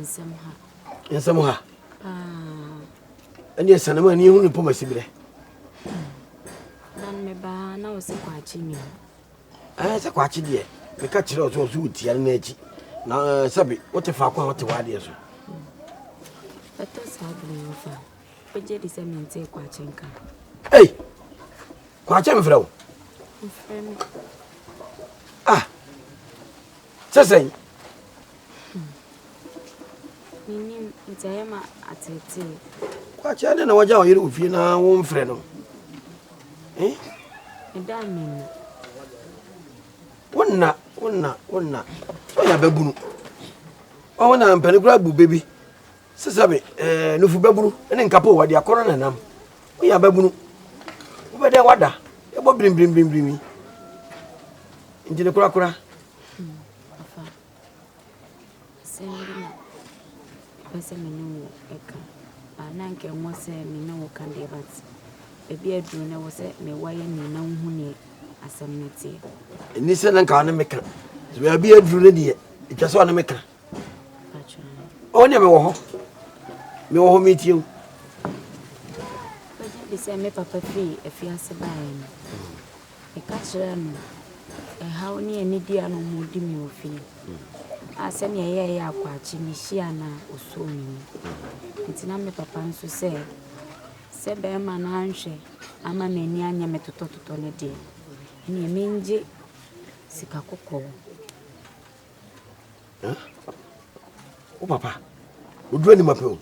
nsɛm ha nsɛm ha ɛne ɛsane ma ɛneɛhu ne pɔmasi berɛ na mebaa na wo sɛ kwakye ni ɛɛ sɛ kwakye deɛ meka kyerɛ ɔ sɛ ɔ so wotia no no akyi na sɛbe wote faako a wote waadeɛ so ɛtɔ saa bere wo fa wogye di sɛ mentee kwakye nka ei kwakye mfrɛ wo mfrɛ me ah Te sɛn? Menim nti ɛyɛ ma ateetee. Kwakyɛ dɛ na wagya ɔyere wɔ fie na womfrɛ no. Eh? Ɛda menim. Wonna, wonna, wonna. So yɛ ababunu. Ɔho na mpani kura bu bebi. Sesabe, eh, nufu babunu, ne nkapo wadi akɔnɔ na nam. Wo ya babunu. Wo bɛ dɛ wada, ebo brim brim brim brim. Ntini kura kura. Pese me ne wo eka. Ana nke nwa se me ne wo kan de bat. Ebi aduru na wo se me wa ye ni na wo huni asem ne tie. Ni se na nka ne me kan. Ebi aduru ne die. Etwa so ne me kan. Ɔwɔ nea mewɔ hɔ. Mewɔ hɔ metie wo. Wogye di sɛ me papa fii afiase baeɛ no, meka kyerɛɛ no ɛhaw ne anidi a na wɔdi me wɔ fie a sɛnea ɛyɛ yɛ akwakye mehyia na ɔsuo me mu. Nti na me papa nso sɛ sɛ bɛrima no anhwɛ ama m'ani anyɛ me totɔtotɔ no deɛ, ɛnneɛ mengye sika kɔkɔɔ. wo papa oduro ni ma pɛ o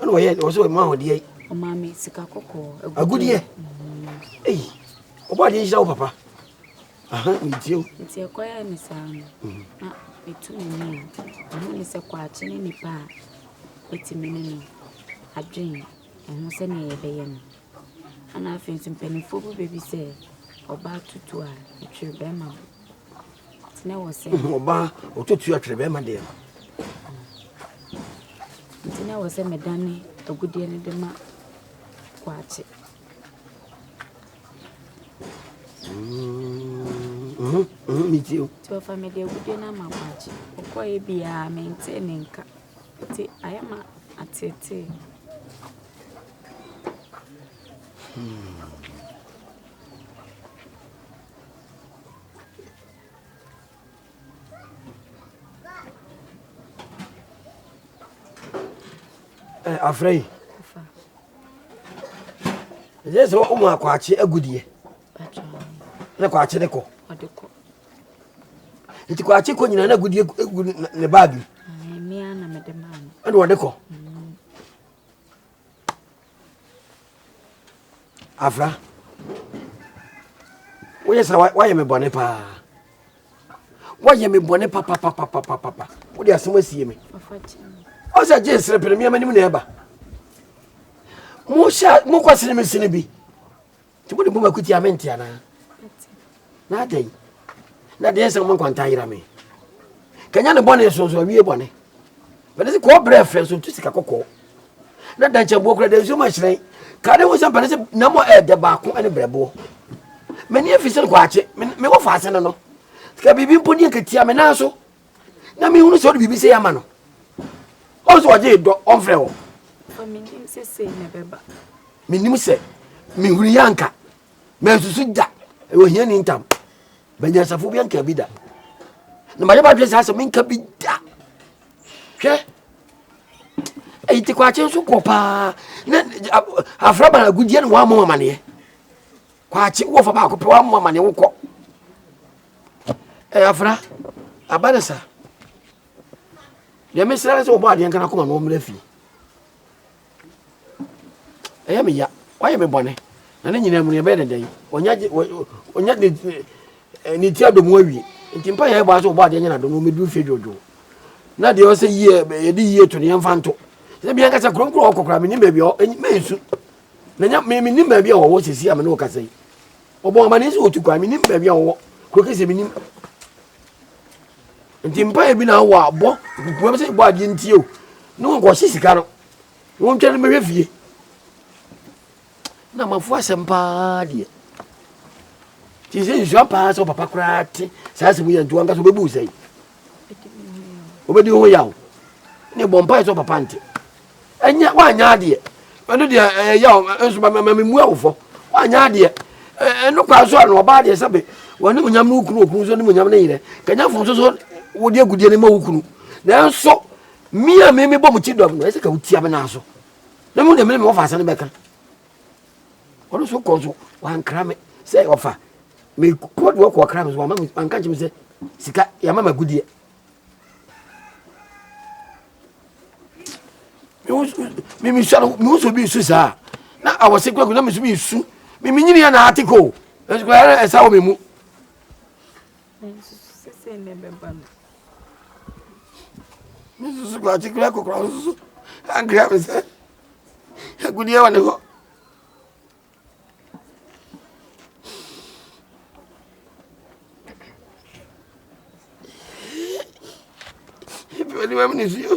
ɛna ɔyɛ ɔsɛ ɔma ahodeɛ yi ɔmaame sika kɔkɔɔ agudeɛ eyi ɔbɔ adeɛ nhyira wo papa aha metie o nti ɛkɔyɛ ne saa no mhm. na metu m'ani a ɛho ne sɛ kɔakye ne nipa a ɛtumi ne no adwen ɛho sɛnea yɛbɛyɛ no ana afei nso mpanimfoɔ bi bɛbi sɛ ɔbaa tutu a ɛtwere bɛrima na wɔ sɛ ɔbaa ɔtɔtua twerɛ bɛrima deɛ no nti na wɔ sɛ medane agudeɛ no de ma kwakye nti ɔfa mede agudeɛ no ama kwakye ɔkɔɛ biaa mentee ne nka nti ayɛ ma atetee hmm. Eh, afrɛ yi ɛyɛ sɛ womu akwaakye agudeɛ na kwaakye ne kɔ nti kwaakye kɔ nyina na agudeɛ gu ne baage ɛne wɔde kɔ afra woyɛ sɛ woayɛ me bɔne paa woayɛ me bɔne papapapapapa wode asɛm asie me ɔ sɛ gye nsere pere meamanim na ɛba mohyɛ mokɔsene me sene bi Nti mode bom akutia me nte anaa? Na adɛn? Na deɛ nsɛm mo nkwanta yera me. Kanya ne bɔne so nso awie bɔne. Bɛde se kɔɔ brɛ frɛ nso ntu sika kɔkɔɔ. Na dankyɛboɔ kora da nsuo ma hyerɛn. Ka ne ho sɛ mpɛne sɛ na mo ɛɛdɛ baako ne brɛboɔ. M'ani afi sɛ kwaakye, me wɔ faase no no. Sika biribi mpo deɛ nkatia me nan so. na mehunu sɛ ɔde biribi sɛ yɛama no ɔn sɛ ɔgye dɔ ɔmfrɛ wɔ menim sɛ mehunu yɛ anka mansusu da ɛwɔ hia ni ntam banyansafo bi anka bi da na mayɛ badwene saa sɛ menka bi da hwɛ ɛyi te kwakye nso kɔ paa na afra banagodie ne wɔamɔ amaneɛ Kwakye wo wɔfa baako pɛ wammoa ma ne wo kɔ ɛyɛ afra aba ne sa deɛ mesra ne sɛ wɔbɔ adeɛ nkana koma na wɔmmra fie ɛyɛ meya wayɛ me bɔne na ne nyinaa mu no yɛbɛyɛ ne dɛn ɔnya ne ti adɔ mu awie nti mpa yɛ ɛbɔ sɛ wɔbɔ adeɛ nyɛ nadɔ no wɔmɛduru fie dwodwo na deɛ ɔsɛ yie yɛde yie to ne yɛmfa nto sɛ bianka sɛ kronkron ɔkɔkora menim baabi mɛnsu Na nya me menim baabi a wɔwɔ sɛsi a me ne wo kasa yi. Ɔbɔ amanneɛ sɛ wɔtu kwan, menim baabi a wɔwɔ. Kuro kɛsɛ menim. Nti mpaeɛ bi na awɔ a bɔ, bua me sɛ bɔ adeɛ ntie o. Ne wɔnkɔhye sika no. Wɔntwa no mɛhwɛ fie. Na mafo asɛm paa deɛ. Nti sɛ nsua paa sɛ papa koraa te saa asɛm yi a nti wankasa wobɛbu sɛe. wobɛdi wo ho yaw ne bɔ mpae sɛ papa nte ɛnyɛ woanyɛ adeɛ ɛno deɛ ɛyɛ yaw nso ma memu awofɔ woanyɛ adeɛ ɛno kwa so a na ɔbaa deɛ sɛ be wɔne mu nyam ne wo kunu okunu nso ne mu nyam ne yerɛ kanyafo nso so wode agudeɛ no ma wo kunu nanso me a me mebɔ mo ti dɔm no ɛsɛ ka wotia me naa so na mu deɛ mene me wɔfa ase no bɛka Ɔno nso kɔ nso wankra me sɛ ɔfa me kɔ do ɔkɔ ɔkra me so wama me wanka nkyɛn me sɛ sika yɛama ma gudeɛ. Me me sɔrɔ me wusu bi su saa na awɔsi kura kura na me su bi su me me nyini yɛ na ati ko ɛsu kura yɛ ɛsa wɔ me mu. Me susu kura ati kura kura susu ankira me sɛ. Agudeɛ wɔ ne hɔ. Pɛni wɛm ne si o.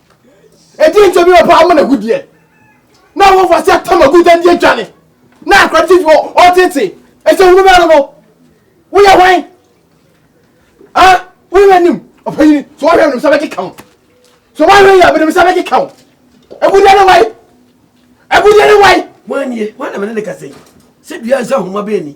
ɛdeɛ nti bi wɔpɛ ama no agudeɛ na wɔfa sɛ atama gu dan deɛ dwane na akora tv ɔtete ɛsɛ hunu bɛɛ no no woyɛ hwan a woyɛ m'anim ɔpanyini so wɔhwɛ menim sɛ bɛkeka wo so wɔhwɛ yɛ menim sɛ bɛkeka wo agudeɛ ne wae agudeɛ ne wae woanie wane mene ne kasɛ sɛ dua nsa homa bɛani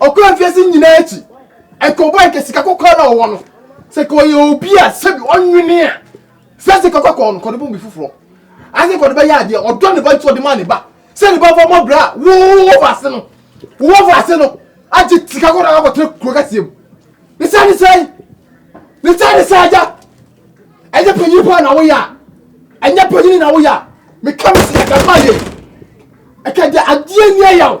Ɔkɔɔ afiase nyinaa akyi, ɛkɔbɔɔ anka sika kɔkɔɔ na ɔwɔ no. Sɛ ka ɔyɛ obi a sɛbi ɔnwene a, sɛ ase kɔkɔ kɔɔ no kɔde bɔ bi foforɔ. Ase kɔde bɛyɛ adeɛ, ɔdɔ ne ba nti ɔde maa ne ba. Sɛ ne ba fa mɔ brɛ a, wo wɔ fa ase no, wo wɔ fa ase no, agye sika kɔkɔɔ na akɔtena kuro kɛseɛ mu. Ne saa ne saa yi, ne saa ne saa agya. Ɛnyɛ panyin paa na woyɛ a, ɛnyɛ panyin na woyɛ a, meka me sɛ ɛka ma yɛ. Ɛka deɛ adeɛ ni ɛyaw.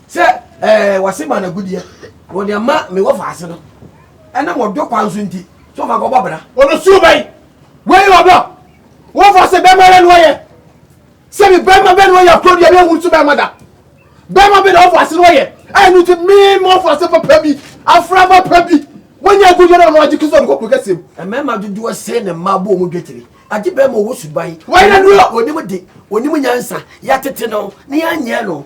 Sɛ ɛɛ wɔse ma no agudeɛ na wɔde ama me wɔfaase no ɛnam ɔdɔ kwan so nti, sɛ ɔma kɔbɔ bra. Ɔbɛsuro bɛn? Wei yɛ ɔdɔ. Wɔfaase bɛrima ara na ɔyɛ. Sɛbi bɛrima bɛn na ɔyɛ akorɔ deɛ yɛnhu no so bɛrima da? Bɛrima bɛn na wɔfaase na ɔyɛ a ɛno nti me ma wɔfaase papa bi, afraba pa bi, wanya agudeɛ na ɔno agye kese ɔde kɔ kuro kɛseɛ mu? Mmarima dodoɔ sɛn na mmaa bɔ wɔn dwetire? Agye bɛrima a ɔwɔ suban, Wei na duro! ɔnim de, ɔnim nyansa, yɛatete no na yɛanyɛ no.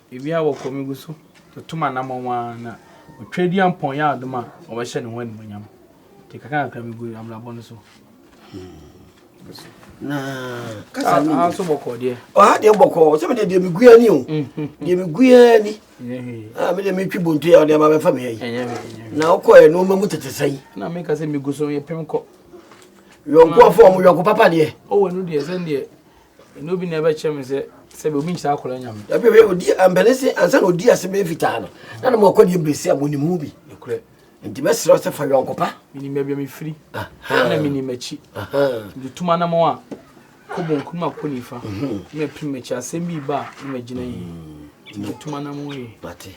Ebi a wɔkɔ megu so tutu m'anammɔn ara na wɔtwa di ampɔn yɛ adom a wɔbɛhyɛ ne ho animuonyam. Nti kakrakakra megu abrabɔ no so. Na kasa ni. Aso bɔkɔ deɛ. Ɔha deɛ bɔkɔ sɛ mede deɛ megu ani o. Deɛ megu ani. Ah mede metwi bontu yɛ ɔde ama bɛfa me ayi. Na wokɔ yɛ nneɛma mu tete sɛn. Na meka sɛ megu so yɛ pem kɔ. Yɔnko afɔ ɔmo yɔnko papa deɛ. Ɔwɔ ɛnu deɛ sɛn deɛ ɛna obi na ɛbɛkyerɛ me sɛ sɛbi obi nkyerɛ akɔla nyame ɛbi ɛbi odi mpɛnɛ se ansa na odi ase bɛyɛ fitaa no na na mo akɔ deɛ mbɛsi a mo nim ho bi ɛkorɛ nti bɛsrɛ sɛ fa yɔnko pa menim baabi a mefiri ɛna menim akyi nti tuma na mo a kɔ bonku no makɔ nifa mhm. na mapiri makyi asɛm bi ba a na magyina yi mm. nti tuma na mo yi mate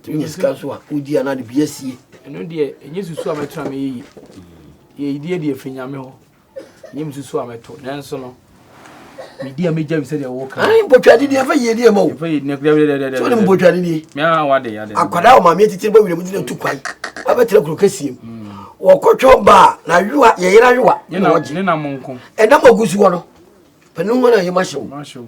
tumi nyɛ sika nso a wodi anaa de bi asie ɛno deɛ ɛnyɛ susu a mɛtra mɛyɛ yi mm. yɛyideɛ deɛ firi nyame hɔ Nyɛ mususu a mɛto nanso no medi a megya bi sɛdeɛ woka ai mpɔtwade ni ɛfa yiedie ma o ɛfa yiedie na kura dɛdɛdɛdɛ so ne mpɔtwade ni mea wade yade akwadaa ɔmaame atitiri bɔ wiram gyina tu kwan abɛtena kuro kɛseɛ mu mm. wɔkɔtwɛn baa na ayowa yɛyera ayowa ne na wɔgye ne nam nko ɛnam agu so hɔ no panin hɔ na yɛma hyew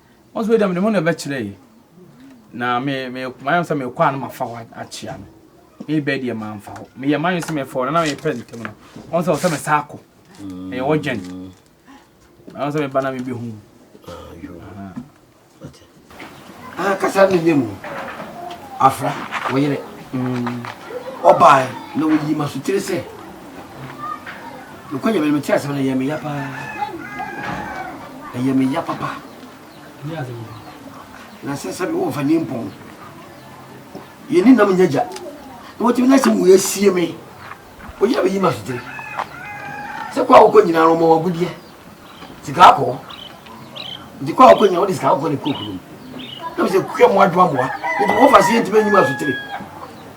Wɔn nso dɛm de mo na ɛbɛkyerɛ yi na me me mayɛ sɛ mekɔ a na mafa hɔ akyea no me bɛ deɛ mamfa hɔ meyɛ mayɛ sɛ mefɔ no na mepɛ ntɛm no wɔn sɛ ɔsɛ me saa kɔ ɛyɛ wɔ gyɛn wɔn sɛ meba na mebɛhu ah, kasa ne yɛ mu afra wɔyerɛ ɔbaa na wɔyi ma so tiri sɛ Nokware no, metee asɛm no, ɛyɛɛ me ya paa. Ɛyɛɛ me ya papa. Na sɛ sɛ wɔmfa ni mpɔn. Yɛni nam nyɛ gya. Na wɔtumi na sɛ wei asie me. Ɔyɛ bɛyi ma sote. Sɛ kɔ a wokɔ nyinaa no ɔma wagodeɛ. Sika akɔ. Nti kɔ a wokɔ nyinaa wode sika akɔ ne kɔkuro mu. Na mesɛ kukɛ mmoa dwoa mmoa. Nti wɔfa se yɛntumi anyi ma sotere.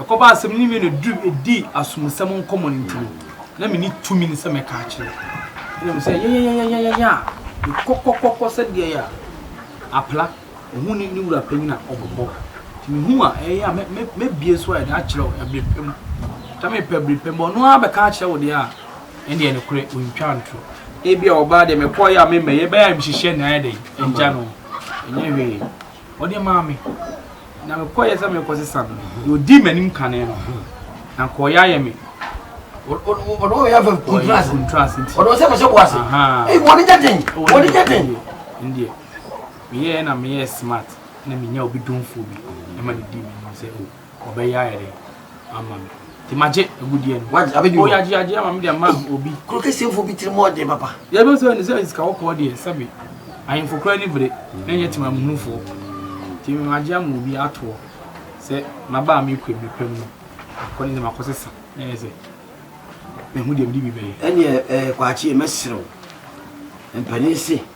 Ɛkɔbaa sɛ me ne Mena dii asomusɛm nkɔmmɔ no ntɛm, na menni tumi sɛ mɛka akyerɛ. Ɛnna mise sɛ, Yɛyɛyɛyɛyɛyɛyɛ a, mekɔkɔkɔkɔ sɛ deɛ a apra ɔhu ne ne wura panyin a ɔbobɔ. Nti mehu a, ɛyɛ a mɛbue so ayɛ dɛ akyerɛ wo ɛbere pa mu. Sɛ mepɛ bere pa mu a, ɔno ara bɛka akyerɛ wo deɛ a, ɛnneɛ nokorɛ ɔntwa ntorɔ. Ebia ɔbaa deɛ mekɔeɛ a memmɛeɛ, ɛbɛyɛ a mehyehyɛɛ no ayɛ dɛn agya no? Ɛnyɛ hwee. Ɔde maa me, na mekɔeɛ sɛ merekɔsesa no, na ɔdii m'anim kane no, na anka ɔyɛ ayɛ me. Ɔde ɔyɛ afɛ kuntraase nti. Ɔde ɔsɛ kɔhyɛ boase. Ee wɔn nyɛ den. Wɔn nyɛ den. Ndeɛ meyɛɛ na meyɛɛ smart na menya obi domfoɔ bi ɛma ne dii m'anim sɛ o. ɔbɛyɛ ayɛ dɛ ama me nti magye agudeɛ no wagye abɛdi hɔ yagye yagye ama me de ama obi kuro kɛseɛfoɔ bi tiri mu ɔden papa yɛbɛ sɛ ne sɛ sika wɔkɔɔ deɛ sɛbe ahemfo koraa ni bere na ɛnyɛ tema muhunufoɔ nti magye ama obi atoɔ sɛ maba a mekɔ mmiri pam no akɔ ne sɛ makɔ sesa na ɛyɛ sɛ mehu deɛ mede bi bɛyɛ ɛneɛ eh, kwaakyeɛ mɛserɛ wo mpani se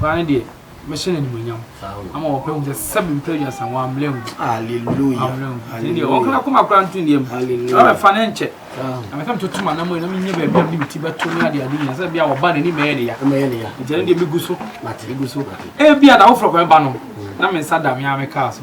Koraa no deɛ, mɛhyɛ no animuonyam ama wɔpɛ hu sɛ sɛ mempɛ aduasa wɔn ammerɛ hu. Hallelujah. Nti deɛ wɔn kana koma koraa nto nneɛm. Hallelujah. Wɔn fa ne nkyɛ. Na meka metoto ma nam na menyɛ baabi a mede ti bɛto ne ade ade nyina sɛ bia wɔba n'ani mɛyɛ ne ya. Mɛyɛ ne ya. Nti ɛno deɛ megu so. Mate. Megu so. Ebia da woforɔ kwan ba no na me nsa da me ara mekaa so.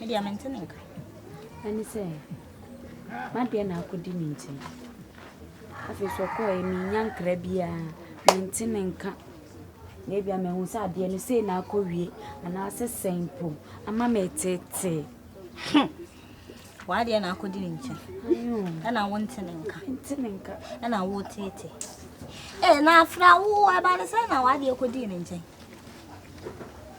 Media mente ne nka. Ɛne sɛ m'adeɛ na akɔdi me nkyɛn. Afei nso ɔkɔɔɛ mennya nkra biara, mente ne nka. Na ebia mahu sɛ adeɛ no sei na akɔwie anaasɛ sɛn mpo ama metetee. Hmm. W'adeɛ na akɔdi ne nkyɛn. Ɛna wo nte ne nka. Nte ne nka. Ɛna wo tete. Ee, na afra wo ɛba ne sɛ na w'adeɛ kɔdii ne nkyɛn.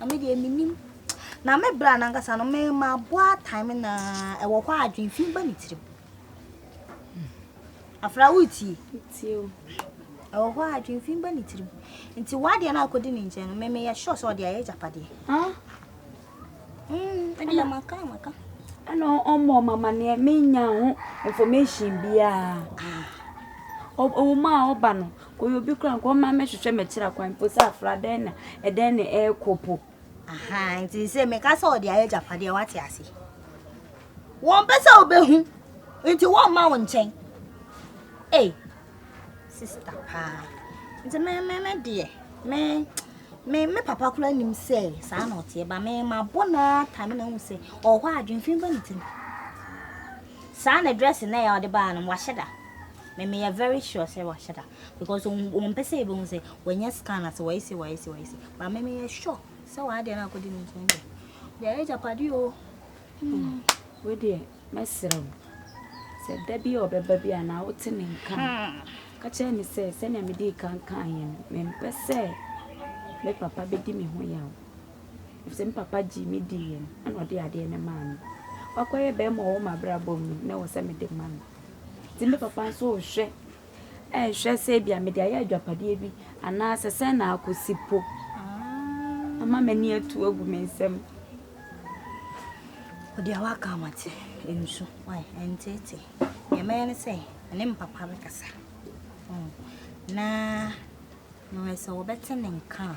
Na me deɛ menim na me bra no ankasa no me ma boa time na ɛwɔ hɔ a adwene fi ba me tirim afra wotie ɛwɔ hɔ a adwene fi ba ne tirim nti wadeɛ no akɔdi ne nkyɛn no meme yɛ sure sɛ ɔde ayɛ agyapadeɛ ɛdeɛ maka maka ɛna ɔmmɔ mamaneɛ menya ho information biaa ɔwoma a ɔba no Ɔyɛ obi koraa nka ɔma mɛhwehwɛ mɛkyerɛ akwan mpo sɛ afra dɛn na ɛdɛn na ɛrekɔ po. Aha, nti sɛ meka sɛ ɔde ayɛ agyapadeɛ wate ase. Wɔmpɛ sɛ wobɛhu nti wɔmma wo nkyɛn. Ei, sista paa. Nti me me me deɛ me me me papa koraa nim sɛ saa na ɔteɛ ba me mabɔ naa ta me na hu sɛ ɔwɔ hɔ adwemfin ba ne tirim. Saa na dress na ɛyɛ ɔde baa no wahyɛ da. Me meyɛ very sure sɛ wahyɛ da because wɔn mpɛ sɛ yɛbɛhu sɛ wɔnyɛ scan ase wɔyɛ se wɔyɛ se wɔyɛ se but me meyɛ sure sɛ wɔn adeɛ no akɔdi ne nkyɛn deɛ deɛ ɛyɛ japade o. Hmm. wo deɛ mɛsrɛ wo sɛ da bi a ɔbɛba bi a na wote ne nka hmm. ka kyerɛ ne sɛ sɛnea mede kankan yɛ no mempɛ sɛ me papa bɛdi me ho yaw sɛ me papa gye me di yɛ no ɛna ɔde adeɛ no maa me wakɔyɛ bɛrima ɔwɔ mabrabɔ mu na wɔ sɛ mede ma no Nti me papa nso rehwɛ, rehwɛ sɛ ebia mede ayɛ adwapadeɛ bi anaasɛ sɛn na akɔsi po ama m'ani atu agu me nsam. Ɔdeɛ waka amate nsu ɛnteete deɛ mɛyɛ ne sɛ ɛne me papa bɛkasa na mewɛ sɛ wɔbɛte ne nka a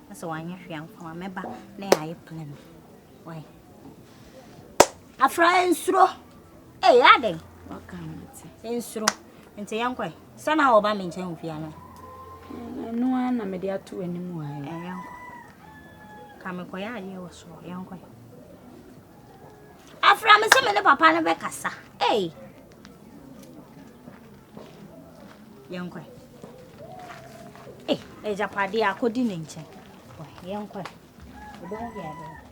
Na sɛ wanyɛ hwee anko a mɛba na yɛayɛ plan bi. Why? Afra nsuro. Ee yɛ adɛn? Waka mate. Nsuro. Nti yɛnkɔe. Sɛ na wɔba me nkyɛn ofie ano. Ɛno ara na mede ato w'anim wɔ ha. Ɛɛ yɛnkɔ. Ka mekɔyɛ adeɛ wɔ soro. Yɛnkɔe. Afra me sɛ me ne papa no bɛkasa. Ee. Yɛnkɔ. Ei, agyapadeɛ akɔdi ne nkyɛn. Yɛnkɔ. Ɔbɛhu baabi.